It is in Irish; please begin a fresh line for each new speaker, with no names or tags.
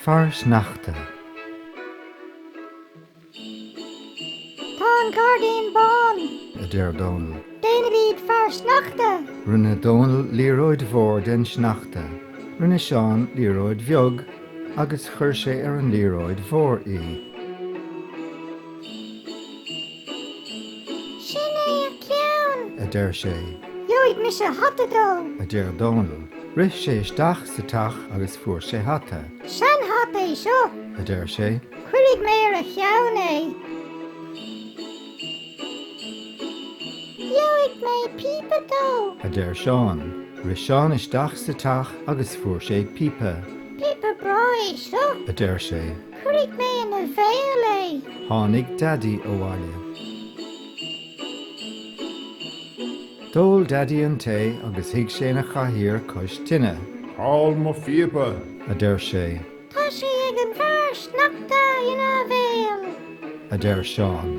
Fear Sneachta. Tá an gairdín bán. a deir Dónall. Déanfaimid fear sneachta! Rinne Dónall liathróid mhór den sneachta. Rinne Seán liathróid bheag agus chuir sé ar an liathróid mhór í. Sin é a ceann! a deir sé. Gheobhaidh mise hata dó! a deir Dónall. Rith sé isteach sa teach agus fuair sé hata. Seanhata é seo! a deir sé. Cuirfidh mé ar a cheann é. Gheobhaidh mé píopa dó! a deir Seán. Rith Seán isteach sa teach agus fuair sé píopa. Píopa breá é seo! a deir sé. Cuirfidh mé ina bhéal é. Tháinig Daidí abhaile. D'ól Daidí an tae agus shuigh sé ina chathaoir cois tine. Cá bhfuil mo phíopa? a deir sé. Tá sé ag an bhfear sneachta ina bhéal. a deir Seán.